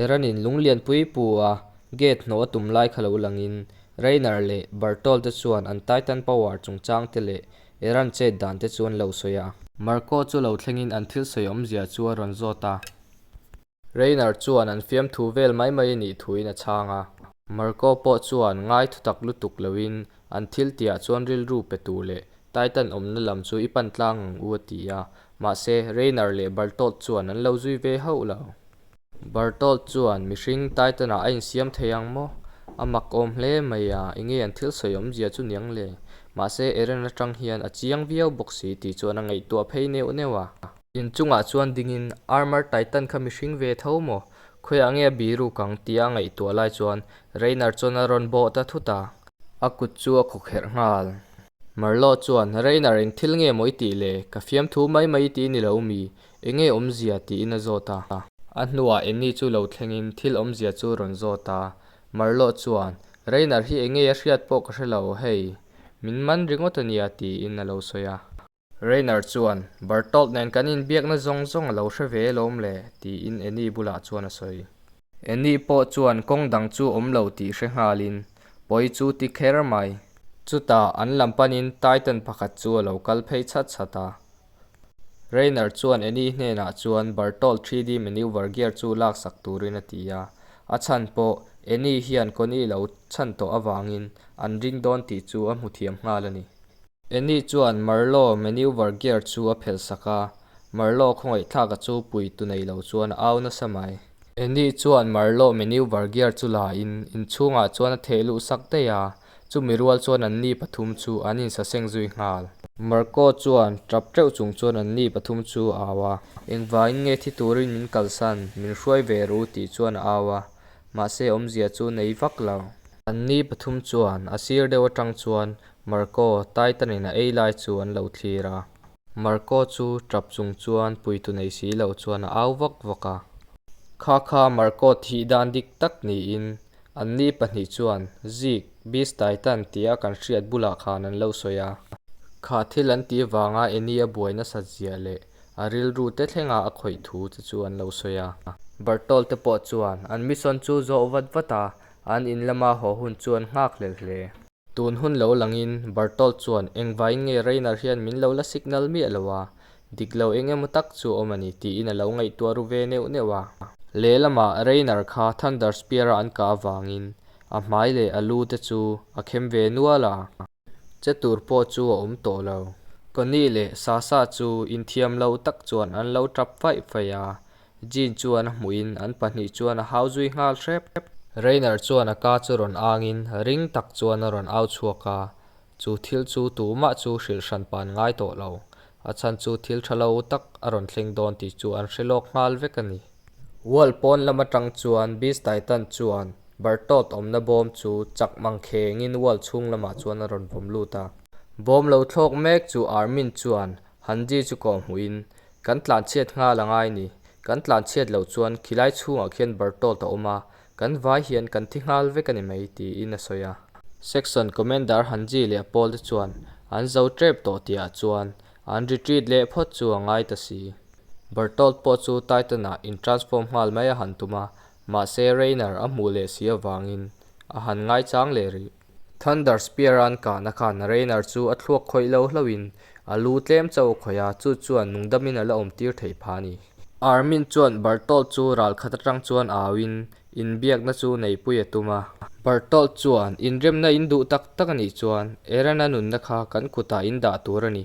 Eranin Lunglianpui pua gate hnawh a tum lai kha lo langin Rainer leh Bertolt te chuan an Titan Power chungchang te leh Eran chet dan te chu an lo sawi a. Marco chu lo thlengin an thil sawi awmzia chu a rawn zawt a. Rainer chuan an fiamthu vel mai mai a nih thuin a chhang a. Marco pawh chuan ngai thutak lutuk loin an thil tia chuan rilru pe tur leh Titan awmna lam chu i pan tlang ang u a ti a. Mahse, Reiner leh Berthold chuan an lo zui ve hauh lo. Berthold chuan, Mihring Titan-ah a insiam thei ang maw? A mak awm hle mai a, i nge an thil sawi awm zia chu niang le? Mahse, Eren atang hian a chiang viau bawk si tih chuan a ngaihtuah phei neuh neuh a. In chungah chuan dingin, Armored Titan kha mihring ve tho maw? Khuiah nge a biruk ang? tia a ngaihtuah lai chuan Reiner chuan a rawn bawh ta thut a. A kut chu a khawkherh nghal. Marlo chuan, Reina reng thil nge mawi tih le, ka fiamthu mai mai ti ni lo mi, enge awmzia tiin a zawt a. A hnuah Annie chu lo thlengin, Thil awmzia chu rawn zawt a. Marlo chuan, Reina hi enge a hriat pawh ka hre lo hei, min man ringawt a nia tiin a lo sawi a. Reiner chuan, Bertolt nen kan inbiakna zawng zawng a lo hre ve lawm le, tiin Annie bulah chuan a sawi. Annie pawh chuan kawng dang chu awm lo tih hre nghalin, Pawi chu ti kher mai. Chutah an lam panin Titan pakhat chu a lo kal phei chhat chhat a. Reiner chuan Annie hnenah chuan Bertolt 3D manoeuvre gear chu laksak turin a ti a, a chhan pawh Annie hian Connie lo chhan tawh avangin an ring dawn tih chu a hmu thiam nghal a ni. Annie chuan Marlo maneuver gear chu a phelh sak a, Marlo khawngaihthlak a chu pui tu nei lo chuan a au nasa mai. Annie chuan Marlo maneuver gear chu la in inchhungah chuan a theh luh sak daih a, chumi rual chuan an ni pathum chu an insa seng zui nghal. Marco chuan tap teuh chung chuan an ni pathum chu a au a, engvangin nge thi turin min kalsan, min hruai ve ru tih chuan a au a, mahse awmzia chu nei vak lo. An ni pathum chuan a sir deuh atang chuan Marco, Titanin a ei lai chu an lo thlir a. Marco chu tap chung chuan puitu nei si lo chuan a au vak vak a. Kha kha, Marco thih dan dik tak niin anni pahnih chuan Zig, Beast Titan tia kan hriat bulah khan an lo sawi a. Kha thil an tih vanga Annie a buai nasa zia leh a rilru te thlenga a khawih thu te chu an lo sawi a. Bertolt te pawh chuan an mission chu zawh vat vat a, an in lama haw hun chuan nghak lel hle. Tun hun lo langin Berthold chuan, Engvaiin nge Reiner hian min lo la signal miah lo a, dik lo eng emaw tak chu a awm a ni, tiin a lo ngaihtuah ru ve neuh neuh a. Lehlamah Reiner kha Thunder Spear-a an kah avangin a hmai leh a lu te chu a khem ve nual a. Che tur pawh chu a awm tawh lo. Connie leh Sasha chu inthiam lo tak chuan an lo tap faih faih a, Jean chuan a hmuhin an pahnih chuan a hau zui nghal hrep. Reiner chuan a ka chu rawn angin ring tak chuan a rawn au chhuak a, chu thil chu tumah chu hrilh hran pan ngai tawh lo, a chhan chu thil tha lo tak a rawn thleng dawn tih chu an hre lawk nghal vek a ni. World pawn lam atang chuan Beast Titan chuan Bertolt awmna bawm chu chak mang khengin world chhung lamah chuan a rawn vawm lut a. Bawm lo thlawk mek chu Armin chuan Han di chu kawh hmuhin, Kan tlanhchhiat nghal a ngai ni, kan tlanhchhiat loh chuan khilai chhungah khian bar tawt a awm a, kan vai hian kan thi nghal vek a ni mai, tiin a sawi a. Section Commander Han Ji leh a pawl te chuan an zo tep tawh tihah chuan an retreat leh phawt chu a ngai ta si. Bar tawt pawh chu Titan-ah in transform nghal mai a han tum a, mahse Rayner a hmuh leh si avangin a han ngaichang leh rih. Thunder Spear-a'n kahna khan Reiner chu a thluak khawih lo hlauhin a lu tlem chauh khawih a, chu chuan nungdamin a la awm tir theih pha a ni. Armin chuan Berthold chu ral khat atang chuan auin inbiakna chu neipui a tum a. Berthold chuan, Inremna in duh tak tak a nih chuan Eren-a nunna kha kan kutah in dah tur a ni,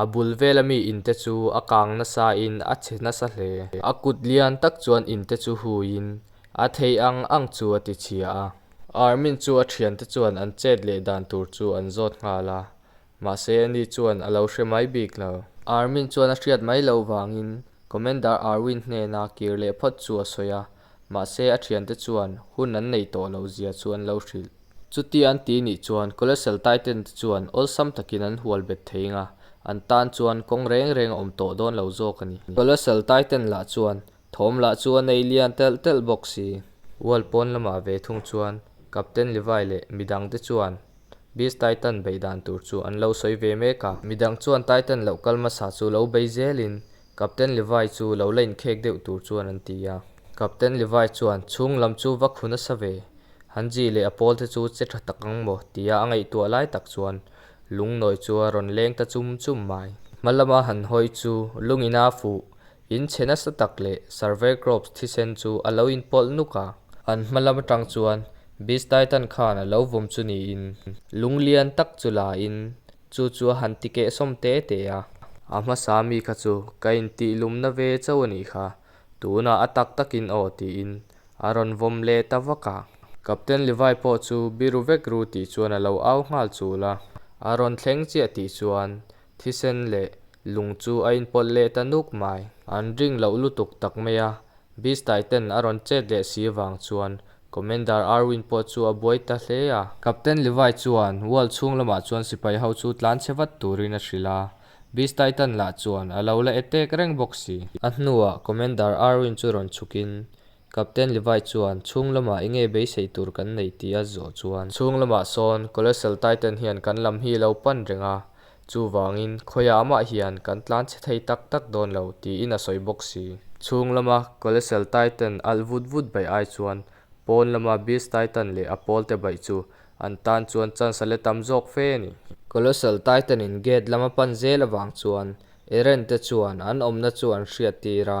A bul vela mi in te chu a kang nasa in a chhe nasa hle. A kut lian tak chuan in te chu hui in a thei ang ang chu a ti chhia a. Army-n chu a thian te chuan an chet leh dan tur chu an zawt nghal a, mahse ani chuan a lo hre mai bik lo. Army-n chuan a hriat mai lo vangin Commander Arwin hnena kir leh phawt chu a sawi a. Mahse a thiante chuan hun an nei tawh lo zia chu an lo hrilh. Chutia an ti nih chuan Kolesel taiten te chuan awlsam takin an hual bet thei eng a, an tan chuan kawng reng reng a awm tawh dawn lo zawk a ni. Kolesel taiten lah chuan thawm lah chu a nei lian telh telh bawk si. Hual pawn lamah ve thung chuan Captain Levi leh midang te chuan Beast Titan beih dan tur chu an lo sawi ve mek a, midang chuan Titan loh kal masa chu lo bei zelin Captain Levi chu lo la inkhek deuh tur chuan an ti a. Captain Levi chuan, Chhung lam chu va khu nasa ve, han Ji leh a pawl te chu che tha tak ang maw tia a ngaihtuah lai tak chuan Lungnawi chu a rawn leng ta chum chum mai. Hma lama han hawi chu lung in a fuh, in che nasa tak leh Survey Crops thisen chu a lo in pawlh nuk a. An hma lam atang chuan Beast Titan khan a lo vawm chu niin. Lung lian tak chu la in Chu chu a han ti keh sawm te te a. A hmasa mi kha chu ka intihlumna ve chauh a nih kha, tunah a tak takin aw tiin a rawn vawm leh ta vak a. Captain Levi pawh chu biru vek ru tih chuan a lo au nghal chul a, a rawn thleng chiah tih chuan thisen leh lung chu a inpawlh leh ta nuk mai. An ring loh lutuk tak mai a, Beastie ten a rawn chet leh si avang chuan Commander Irwin pawh chu a buai ta hle a. Captain Levi chuan wall chhung lamah chuan sipai ho chu tlan che vat turin a hrilh a, Beastie ten lah chuan a lo la e tek reng bawk si. A hnuah Commander Irwin chu rawn chhukin Captain Levi chuan chhung lamah enge beisei tur kan nei tih a zawh chuan. Chhung lamah sawn Colossal Titan hian kan lam hi a lo pan reng a, Chuvangin, khawiah amah hian kan tlan chhe thei tak tak dawn lo, tiin a sawi bawk si. Chhung lama Colleseal Titan alh vut vut baih ai chuan pawn lama Beast Titan leh a pawlte baih chu an tan chuan chance le tam zawk fe a ni. Colleseal Titan-in gate lama pan zel avang chuan Eren-te chuan an awmna chu an hriat tir a,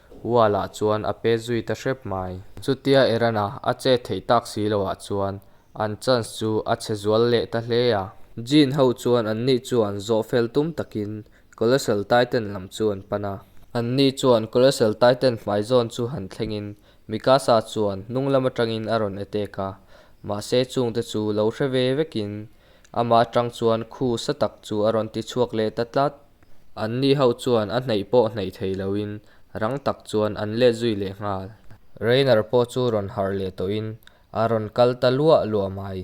Uala chuan a pe zui ta hrep mai. Chutia Erana a chet theih tak si lo ah chuan an chance chu a chhe zual leh ta hle a. Jin ho chuan an ni chuan zawh fel tum takin Colossal Titan lam chu an pan a. An ni chuan Colossal Titan hmai zawn chu han thlengin Mikasa chuan hnunglam atangin a rawn attack a, mahse chungte chu lo hre ve vekin ama atang chuan khu sa tak chu a rawn ti chhuak leh ta tlat. An ni ho chuan a hneih pawh hneih thei loin rang tak chuan an let zui leh nghal. Reiner pawh chu rawn harh leh tawhin a rawn kal ta luah luah mai.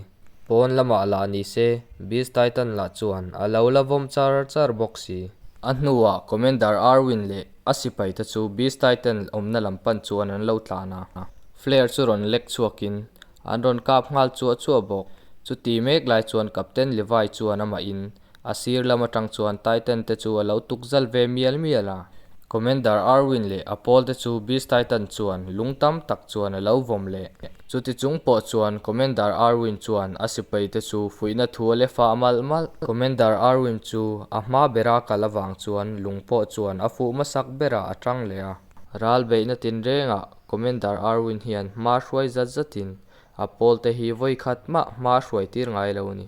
Pawn lamah lah ni se, Beast Titan lah chuan a lo la vawm char char bawk si. A hnuah Commander Arwin leh a sipai te chu Beast Titan awmna lam pan chuan an lo tlan a. Flare chu rawn lek chhuakin an rawn kap nghal chuah chuah bawk. Chuti mek lai chuan Captain Levi chuan amahin A sir lam atang chuan Titan te chu a lo tuk zal ve mial mial a. Commander Arwin leh a pawl te chu Beast Titan chuan lung tam tak chuan a lo vawm leh. Chuti chung pawh chuan Commander Arwin chuan a sipai te chu fuihna thu a lef a malh malh. Commander Arwin chu a hma bera kal avang chuan lung pawh chuan a fuh hmasak berah a ṭang leh a. Ral beihna tin rengah Commander Arwin hian hma hruai zat zat in a pawl te hi vawi khat mah hma hruai tir ngai lo a ni.